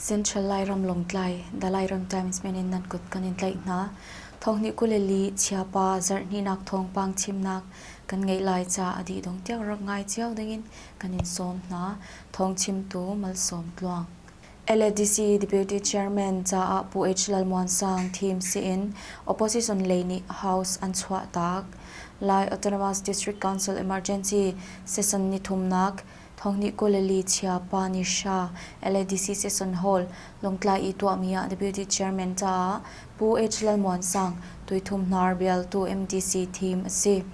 Central Lairam Lawngtlai Dalai Ram Times men in nan kut kan in tlaih hna. Thawngni kuleli chiapa zarhninak thawngpang chimnak kan ngei lai ca adi dong tiang rak ngai cio dingin kan in sawm hna. Thawng chimtu malsawm tluang. LADC deputy chairman caah Pu H. Lalmuansang thim siin opposition lei nih House an chuah taak. Lai Autonomous District Council Emergency Session ni thumnak thonghni kuleli chia pa ni sha LADC session hall longtlai i tuahmi ah deputy chairman caah Pu H. Lalmuansang tuithum hnar bialtu MDC thim a si.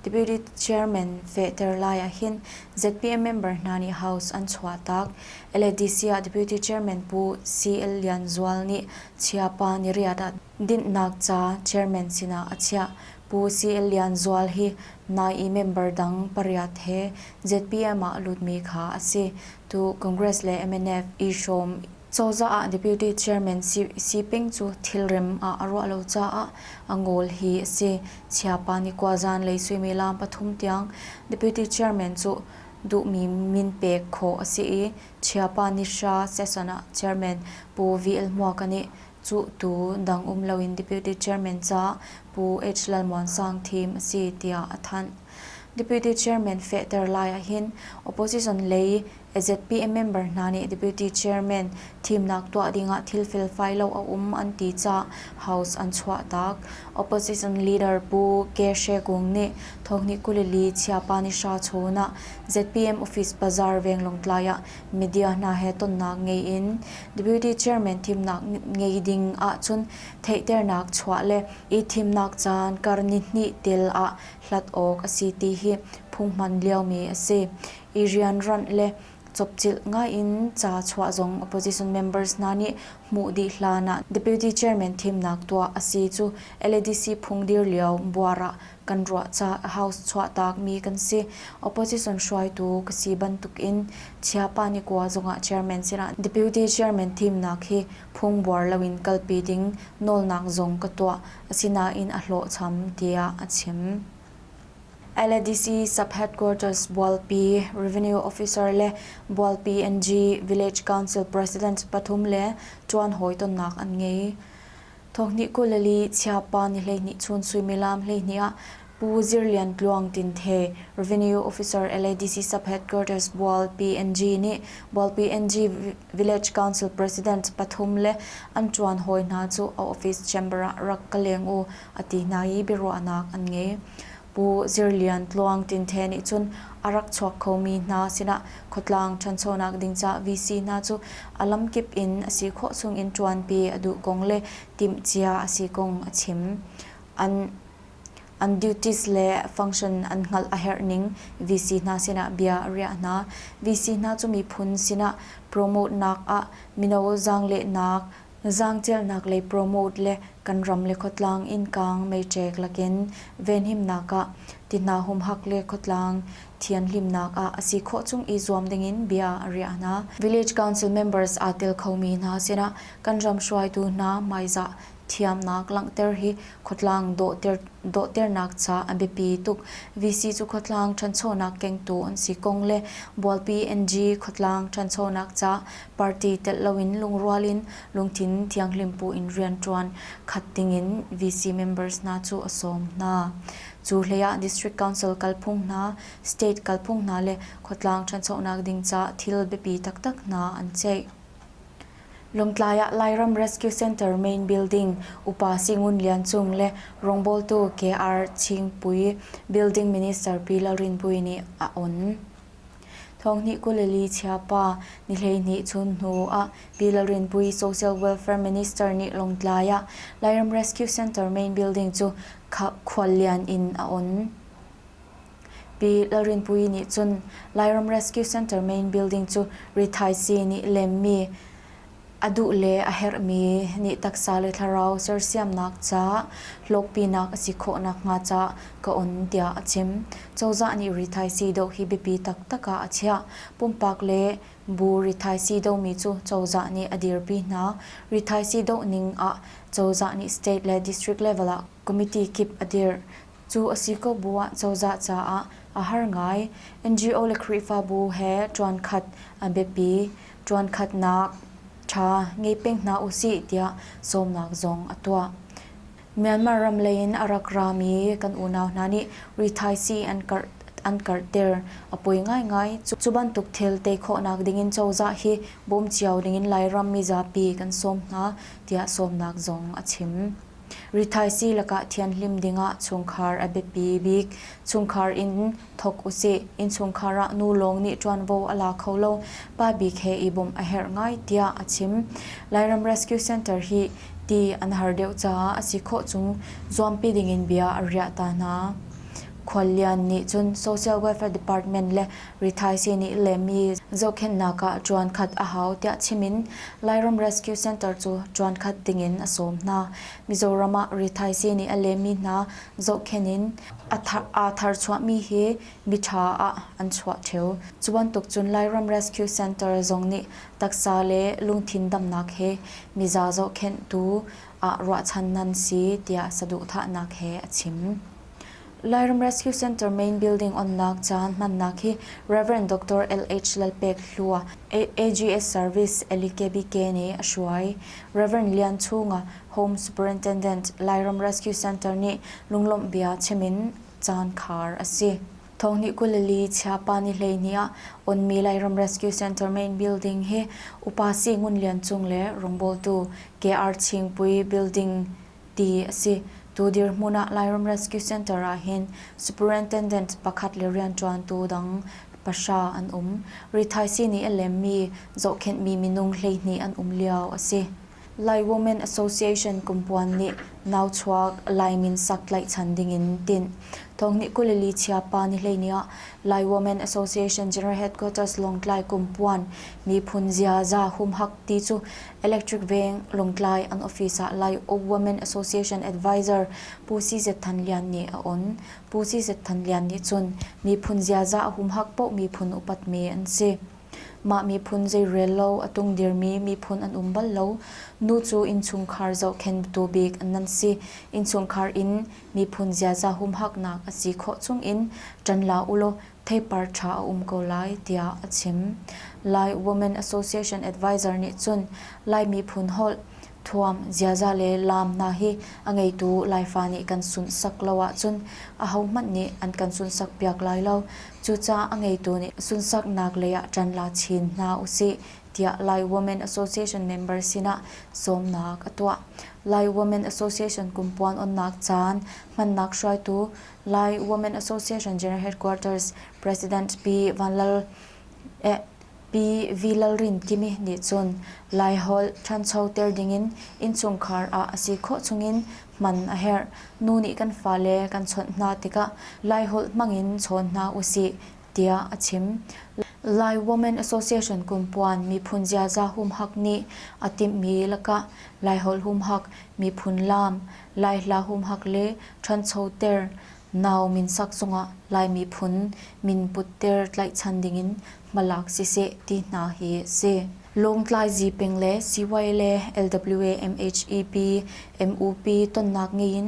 Deputy chairman fehter lai ahhin ZPM member hna nih House an chuah taak. LADC ah Deputy Chairman Pu CL Lian Zual nih chia pa niriat ah dinhnak ca chairman sinah a chiah. Pu CL Lian Zual hi nai i member dang pariat he ZPM ah lutmi kha a si. Tu Congress le MNF i hrawm Cozah ah Deputy Chairman si peng cu thilrem ah a ruah lo caah a ngol hi a si. Chia pa nih khuazan lei suimilam pathum tiang Deputy Chairman cu duhmi min pek khawh a si i Chiapanisha Session ah Chairman Pu VL Hmuaka nih cuh tu dang um loin Deputy Chairman caah Pu H Lalmuansang thim a si tiah a thanh. Deputy Chairman fehter lai ahhin opposition lei AZPM member hna nih Deputy Chairman Thimnak tuah dingah thil felfai lo a um an ti caah House an chuahtak. Opposition leader Pu Ke Hre Kung nih thawkni kul i li Chiapanisha chawn ah ZPM office bazaar venglawng tlai ah media hna he tonnak ngei in Deputy Chairman thimnak ngei ding ahcun theihternak chuah le i thimnak caan kar nihnih tel ah hlat awk a si ti hi phung hman liomi a si i rianranh le Copcilh ngai in ca chuah zong opposition members hna nih hmuh dih hlan ah deputy chairman thimnak tuah a si cu LADC phung dir lio buar ah kan ruah caah House chuahtak mi kan si. Opposition hruaitu ka si bantuk in Chiapa Nikua zongah chairman sinah deputy chairman thimnak hi phungbuar loin kalpi ding nawlnak zong ka tuah. Asinain a hlawhcham tiah a chim. Aladisi sub-headquarters Bualpi, Revenue Officer le Bualpi NG Village Council President pathum le ṭuan hawitonnak an ngei. Thawhni kul li chiapa ni hleihnih chun suimilam hleihnih ah Pu Zir Lian Tluang Tinthe, Revenue Officer Aladisi sub-headquarters Bualpi NG nih Bualpi NG Village Council President pathum le an ṭuan hawi hna cu a office chamber ah rak ka leng u a ti hna i biaruahnak an ngei. Pu Zir Lian Tluang Tin Hthe nih cun a rak chuak khomi hna sinah khuatlang ṭhanchonak ding ca VC hna cu a lamkip in a si khawh chungin ṭuanpi a duh kong le timhcia a si kong a chim. An an duties le function an hngalh a herh ning VC hna sinah bia a riah hna. VC hna cu miphun sinah promote nak ah mino zaanglehnak Zaangcialnak lei promote le kan ram le khuatlang innkang meiṭek lakin venhimnak ah, ti hna humhak le khuatlang thianhlimnak ah a si khawh chung i zuam dingin bia a riah hna. Village Council members aa tel khomi hna sinah kan ram hruaitu hna hmaizah thiamnak langhter hi khuatlang dawhternak ca a biapi tuk. VC cu khuatlang ṭhanchonak kengtu an si kong le bualpi NG khuatlang ṭhanchonak ca party telh loin lungrual in lungthin thianghlim bu in rianṭuan khat dingin VC members hna cu a sawm hna. Cu hleiah District Council kalphung hna, state kalphung hna le khuatlang ṭhanchonak ding ca thil biapi taktak hna an ceih. Lawngtlai ah Lairam Rescue Center Main Building, Upa Singun Lian Cung le rawngbawltu KR Chingpui Building Minister Pi Lalrinpuii nih a on. Thawngnih kuleli chiapa ni hleihnih chun hnu ah Bill Rinpui Social Welfare Minister nih Lawngtlai ah Lairam Rescue Center main building cu khuallian in a on. Bill Rinpui nih cun Lairam Rescue Center main building cu rithaisii nih lemmi A duh le a herhmi nih taksa le thlarau sersiamnak caah hlawkpinak a si khawh nakhnga cah ka on tiah a chim. Cozah nih rithaisii doh hi biapi taktak ah a chiah. Pumpak le bu rithaisii dohmi cu cozah nih a dirpi hna. Rithaisii doh ning ah cozah nih state le district level ah Committee kip a dirh. Cu a si ko bu ah cozah caah a har ngai. NGO le Khrihfabu he ṭuankhat a biapi. Ṭuankhatnak ṭha ngei peng hna u sih tiah sawmnak zong a tuah. Myanmar ram lei in a rak rami kan unau hna nih rithaisii an karhter a poi ngaingai. Cu bantuk thil tei khawhnak ding in cozah hi bawm cio ding in Lairam mizapi kan sawm hna tiah sawmnak zong a chim. Rithaisi lakah thianhlim dingah chungkhar a biapi bik. Chungkhar in thawk usih. Innchungkhar ah nu lawng nih ṭuanvo a la kho lo. Pa bik he i bawmh a herh ngai tiah a chim. Lairam Rescue Center hi ti an har deuh caah a si khawh chung zuampi dingin bia a riah ta hna. Khuallian nih cun Social Welfare Department le Rithaisi nih lehmi zohkhenhnak ah ṭuan khat a hau tiah chim in Lairam Rescue Center cu ṭuan khat ding in a sawm hna. Mizoram ah rithaisi nih a lehmi hna zohkhenh in aa tharchuahmi hi miṭha ah an chuah ṭheu. Cu bantuk cun Lairam Rescue Center zong nih taksa le lungthin damnak he miza zohkhenh tu ah ruahchan nan si tiah saduhthahnak he a chim. Lairam Rescue Center Main Building onnak caan hmannak hi Rev. Dr. LH Lalpek Hlu AGS Service LEKBK nih a hruai. Rev. Lian Chung Home Superintendent Lairam Rescue Center nih lunglawmh bia chim in caan khar a si. Thawngnih kul li chiapani hleihnih ah onmi Lairam Rescue Center Main Building hi upasi Ngun Lian Cung le rungbawltu KR Chingpui Building ti a si. Tu dirhmun ah Lairam Rescue Centre ah hin superintendent pakhat le rianṭuantu dang pahra an um. Rithaisii nih a lemmi zohkhenhmi minung hleihnih an um lio a si. Lai Women Association kumpuan nih nauchuak Laimin sak tlaihchan dingin tinh. Thawngnih kul le li chia pa ni hleini ah Lai Women Association General Headquarters Lawngtlai kumpuan miphun ziaza humhak ti cu Electric Veng, Lawngtlai an office ah Lai Uk Women Association Advisor Pu CZ Than Lian nih a on. Pu CZ Than Lian nih cun miphun ziaza a humhak paoh miphun upatmi an si. Mah miphun zeirel lo a tungdirmi miphun an um bal lo. Nu cu innchungkhar zohkhenhtu bik an nan si. Innchungkhar in miphun ziaza humhaknak a si khawh chung in ṭan la ulaw theipar ṭha a um ko lai tiah a chim. Lai Women Association advisor nih cun Lai miphun holh, thuam, ziaza le laam hna hi a ngeitu Laifa nih kan sunhsak lo ahcun ahohmanh nih an kan sunhsak piak lai lo. Cucaah a ngeitu nih sunsaknak lei ah ṭan la chin hna usih tiah Lai Women Association member sinah sawmnak a tuah. Lai Women Association kum puan onnak caan hmannak hruaitu lai women association general headquarters president pi v lalrin kimi nih cun laiholh ṭhancho ter dingin innchungkhar ah a si khawh chungin hman a herh nu nih kan fale kan chawnh hna tikah laiholh hmangin chawn hna usih tiah a chim. Lai Women Association kumpuan miphun ziaza humhak nih a timhmi lakah Laiholh humhak, miphun laam, Laihla humhak le ṭhanchoter nau minsak zongah Lai miphun min putter tlaihchan dingin hmalak siseh ti hna hi a si. Lawngtlai Zipeng le Siwai le LWA MHEP, MUP tonnak ngei in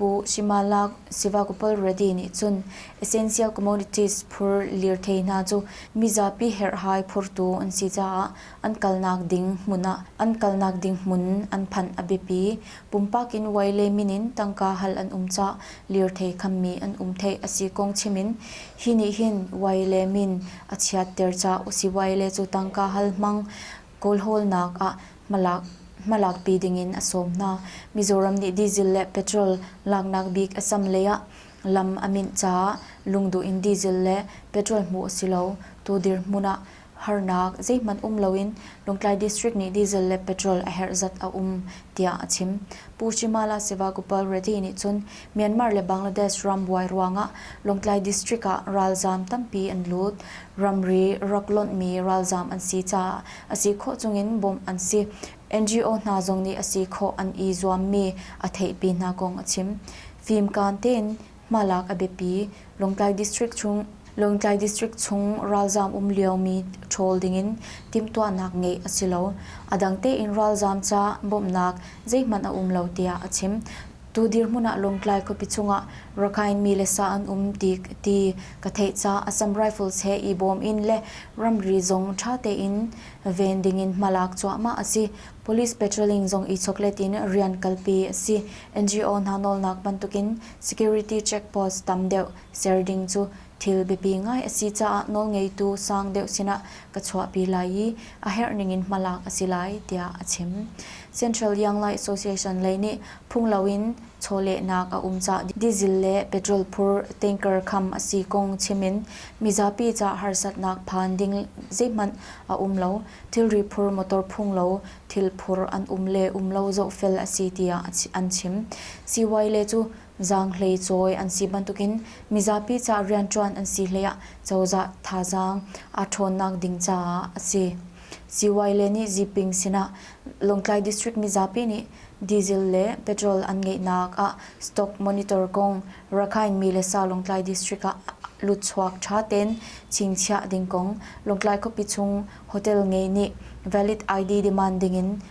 Pu Shimala Sivakopal Reddy nih cun Essential Commodities phur lirthei hna cu mizapi herhhai phurtu an si caah an kalnak ding hmun an phanh a biapi. Pumpak in Wai le min in tangka hal an um caah lirthei khammi an um theih a si kong chim in hi nih hin Wai le min a chiatter ca usih Wai le cu tangka hal hmang kawlhawlnak ah hmalakpi dingin a sawm hna. Mizoram nih diesel le petrol laknak bik a cam lei ah lam a minh caah lungduh in diesel le petrol hmuh a si lo. Tu dirhmun ah harnak zeihmanh um loin Lawngtlai district nih diesel le petrol a herh zat a um, tiah a chim. Pu Shimala Sivagopal Reddy nih cun Myanmar le Bangladesh rambuai ruangah Lawngtlai district ah ralzaam tampi an lut. Ramri rak lonhmi ralzaam an si caah a si khawh chungin bawmh an si. NGO hna zong nih a si khawh an i zuammi a theihpi hna kong a chim. Fimkaan tein hmalak a biapi. Lawngtlai district chung Lawngtlai district chung ralzaam um liomi ṭhawl dingin timhtuahnak ngeih a si lo. A dang tein ralzaam ca bawmhnak zeihmanh a um lo tiah a chim. Tu dirhmun ah Lawngtlai khuapi chungah Rakhine mi le sa an um ti ka ti. Ka theih caah Assam Rifles he i bawm in le ramri zong ṭha tein ven ding in hma lak cuahmah a si. Police patrolling zong i choklet in rian kalpi a si. NGO hna nawlnak bantukin security checkpost tam deuh ser ding cu thil biapi ngai a si caah nawlngeitu sang deuh sinah ka chuahpi lai i a herh ning in hmalak a si lai tiah a chim. Central Young Life Association lei nih Phung loin chawlehnak a um caah diesel le petrol phur tanker kham a si kong chim in mizapi caah harsatnak phan ding zeihmanh a um lo. Thilri phur, motor phung lo, thil phur an um le um lo zohfel a si tiah an chim. Siwai le cu zaanghlei cawi an si bantukin mizapi caah rianṭuan an si hleiah cozah thazaang a ṭhawnnak ding caah a si. Siwai le nih Ziping sinah Lawngtlai District mizapi nih diesel le petrol an ngeihnak ah stock monitor kong Rakhine mi le sa Lawngtlai District ah lutchuak ṭha tein chingchiah ding kong Lawngtlai khuapi chung hotel ngei nih valid ID demand dingin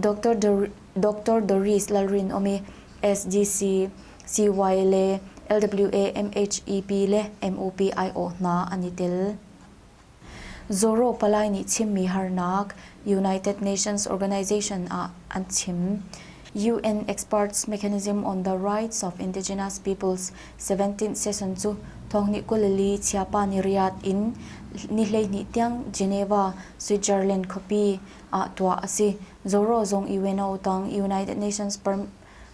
Dr. Doris Lalrinawm i SGCCY le LWA MHEP le MUP aiawh hna an i tel. Zoro Palai nih chimmi harnak United Nations Organization ah an chim. UN Experts Mechanism on the Rights of Indigenous Peoples 17th session cu thawngnih kulili chiapa ni riat in ni hleihnih tiang Geneva, Switzerland khuapi ah tuah a si. Zoro zong UNO tang United Nations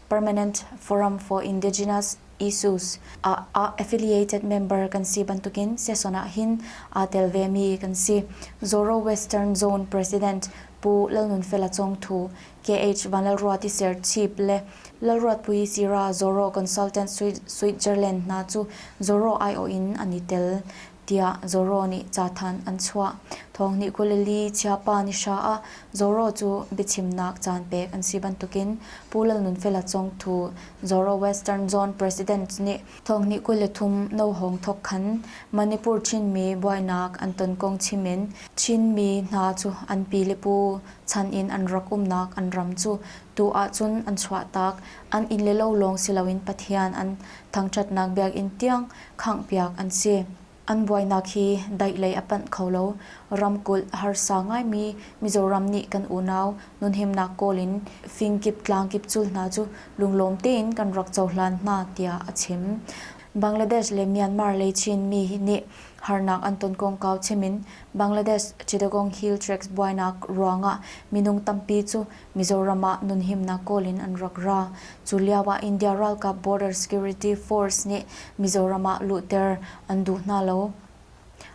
Permanent Forum for Indigenous Issues ah ah affiliated member kan si bantukin seson ah hin aa tel vemi kan si. Zoro Western Zone President Pu Lalnunfela Congthu, KH Vanlalruati Serchip le Lalruatpui Sira Zoro Consultant Switzerland hna cu Zoro aiawh in an i tel. tiah Zoro nih cathanh an chuah. Thawngnih Galilee chiapa ni hra ah Zoro cu biachimnak caan pek an si bantukin Pu Lalnunfela Cong Thu, Zoro Western Zone President nih thawngnih kul le thum no hawng thawk khan Manipur Chinmi buainak an ton kong chim in Chinmi hna cu an pi le pu chan in an rak umnak an ram cu tu ahcun an chuahtak, an inn le lo lawng si loin Pathian an thangṭhatnak biakinn tiang khanghpiak an si. An buainak hi daih lei a panh kho lo. Ramkulh harsa ngaimi Mizoram nih kan unau nunhimnak kawl in fingkip tlangkip cul hna cu lunglawm tein kan rak cohlan hna tiah a chim. Bangladesh le Myanmar lei Chinmi nih harnak an ton kongkau chim in Bangladesh Chittagong Hill Tracts buainak ruangah minung tampi cu Mizoram ah nunhimnak kawl in an rak ra. Cu lio ah India ralkap border security force nih Mizoram ah luhter an duh hna lo.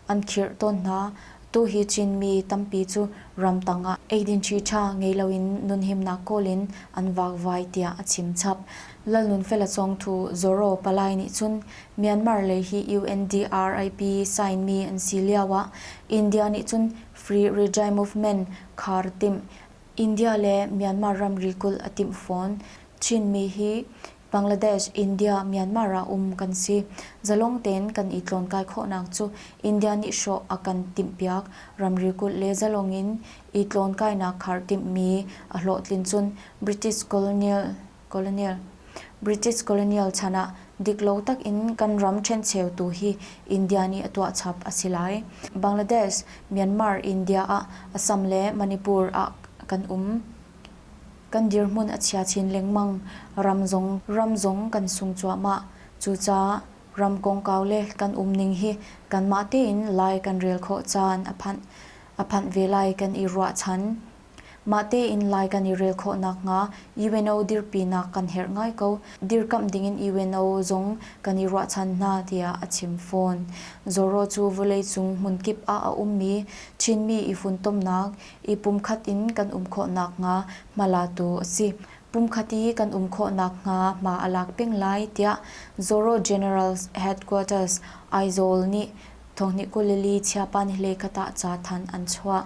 An khirh tawn hna. Tuhi Chinmi tampi cu ramtang ah eidin ṭhiṭha ngei loin nunhimnak kawl in an vakvai tiah a chimchap. Lalnunfela Cawngthu Zoro palai nih cun Myanmar lei hi UNDRIP sainmi an si lio ah India nih cun free regime movement khar timh India le Myanmar ramri kulh a timh fawn. Chinmi hi Bangladesh, India, Myanmar ah um kan si. Zalong tein kan i tlawnkai khawhnak cu India nih hrawh a kan timhpiak. Ramri kulh le zalong in i tlawnkainak khar timhmi a hlawhtlin cun British colonial colonial. British colonial chan ah diklo tak in kan ram ṭhencheu tu hi India nih a tuah chap a si lai. Bangladesh, Myanmar, India ah Assam le Manipur ah kan um. Kan dirhmun a chia chin lengmang. Ram zong ram zong kan sung cuahmah. Cucaah ram kongkau le kan um ning hi kanmah tein lai kan rel khawh caan a phanh. A phanh ve lai kan i ruah chan. Mah tein lai kan i rel khawh nakhnga UNO dirpinak kan herh ngai ko. Dirkamh dingin UNO zong kan i ruahchan hna tiah a chim fawn. Zorro cu vawleicung hmunkip ah a ummi Chinmi i funtomnak i pumkhat in kan um khawh nakhnga hma latu a si. Pumkhat i kan um khawh nakhnga hma a lak peng lai tiah Zorro General Headquarters Aizawl nih thawnghnihkulili chiapan hlekhat ah ca thanh an chuah.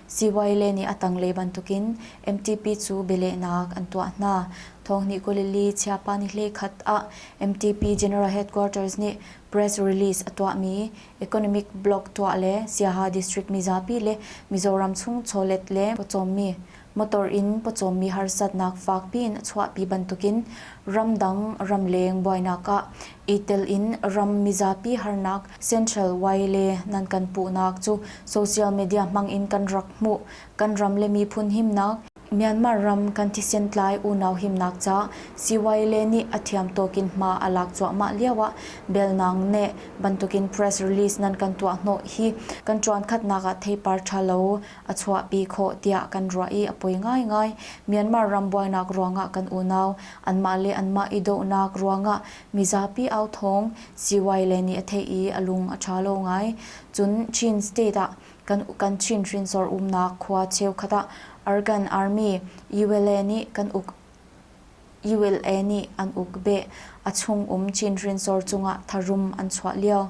Sihuaile nih a tanglei bantukin MTP cu bialehnak an tuah hna. Thawngnih Galilee chiapanihlei khat ah MTP General Headquarters nih press release a tuahmi economic block tuah le Siaha district mizapi le Mizoram chung chawlet le pawcawmmi motor in pawcawmmi harsatnak fakpiin a chuahpi bantukin ramdang ramleng buainak ah i tel in ram mizapi harnak Central Wai le nan kan puhnak cu social media hmang in kan rak hmuh. Kan ram le miphun himnak, Myanmar ram kan thisen tlai unau himnak ca CY le nih a thiam tuk in hma a lak cuahmah lio ah belnang ne bantukin press release nan kan tuah hnawh hi kan tuan khatnak ah theipar tha lo a chuahpi khawh tiah kan ruah i a poi ngaingai. Myanmar ram buainak ruangah kan unau anmah le anmah i dohnak ruangah mizapi au thawng CY le nih a theih i a lung a ṭha lo ngai. Cun Chin State ah kan Chin hrinsor umnak khua cheukhat ah Argan Army, ULA, nih kan uk ULA nih an uk beh. A chung um Chin Hrinsor cungah tharum an chuah lio.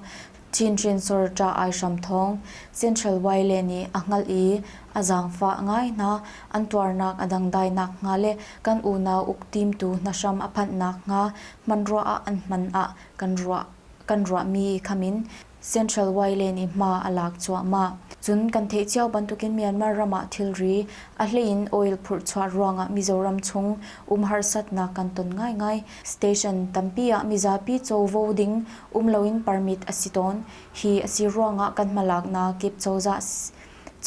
Chin Hrinsor ṭa ai hram thawng. Central Wyle nih a hngalh i a zaangfah ngai hna. An tuarnak a dangdai nakhnga le kan unau uktimtu hna hram a phanh nakhnga hmanruah ah an hman ah kan ruahmi khamin Central Wayland i hma a lak cuahmah. Cun kan theih cio bantukin Myanmar ram ah thilri, a hleiin oil phurhchuah ruangah Mizoram chung um harsatnak kan ton ngaingai. Station tampi ah mizapi covo ding um loin permit a si tawn. Hi a si ruangah kan hmalaknak kip cozah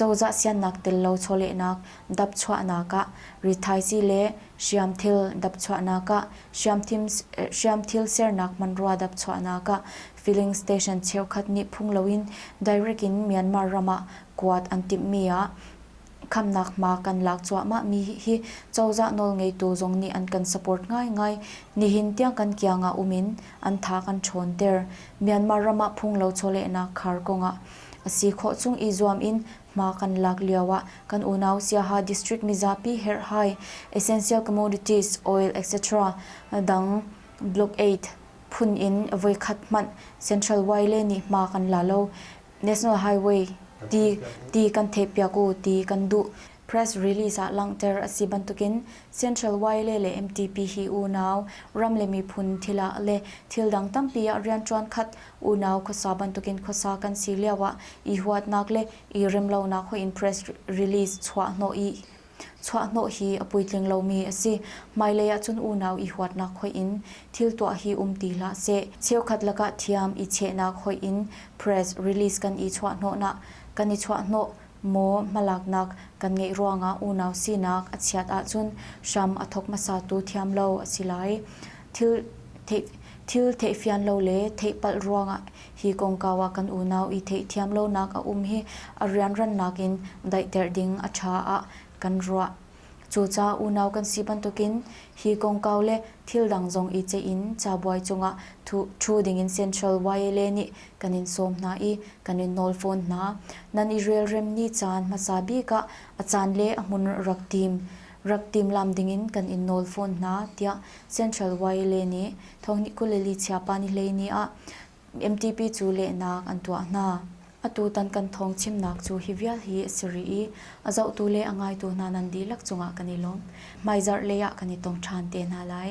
cozah siannak tel lo chawlehnak dapchuahnak ah rithaisii le hriamthil dapchuahnak ah hriamthil sernak hmanrua dapchuahnak ah Filling station cheukhat nih phung loin direct in Myanmar ram ah kuat an timhmi ah khamhnak hma kan lak cuahmahmi hi cozah nawlngeitu zong nih an kan support ngaingai. Nihin tiang kan kiang ah um in an tha kan ṭhawnter. Myanmar ram ah phunglo chawlehnak khar kong ah a si khawh chung i zuam in hma kan lak lio ah kan unau Siaha district mizapi herhhai, essential commodities, oil etc. dang Block Aid, phun in voikhat hmanh Central Way le nih hma kan la lo. National Highway ti ti kan theihpiak u ti kan duh. Press release ah langhter a si bantukin Central Way le le MTP hi unau, ram le miphun thil ah le thil dang tampi ah rianṭuan khat unau khuasa bantukin khuasa kan si lioah i huatnak le i remlonak hoih in press release chuah hnawh i Chuahhnawh hi a puitling lomi a si. Hmailei ahcun unau i huatnak hoih in thil tuah hi um ti hlah seh. Cheukhat lakah thiam i chehnak hoih in press release kan i chuahhnawhnak kan i chuahhnawh maw hmalaknak kan ngeih ruangah unau sinak a chiat ahcun hram a thawk hmasatu thiam lo a si lai. Thil thei, thil theihfian lo le theihpalh ruangah Hi kongkau ah kan unau i theihthiam lonak a um i a rianrannak in daihter ding a ṭha ah kan ruah. Cucaah unau kan si bantukin hi kongkau le thil dang zong i ceih in cabuai cungah ṭhu dingin Central YLA nih kan in sawm hna i kan in nawl fawn hna. Nan i relrem ni caan hmasa bik ah a caan le a hmun rak tim. rak timhlamh dingin kan in nawl fawn hna, tiah Central YLA nih Thawngnih kul le li Chiapani hleini ah MTP cu lehnak an tuah hna. Atutan kan thawng chimnak cu hi vial hi a si rih i a zohtu le a ngaitu hna nan dihlak cungah kan i lawm. Hmaizarh lei ah kan i tong ṭhan te hna lai.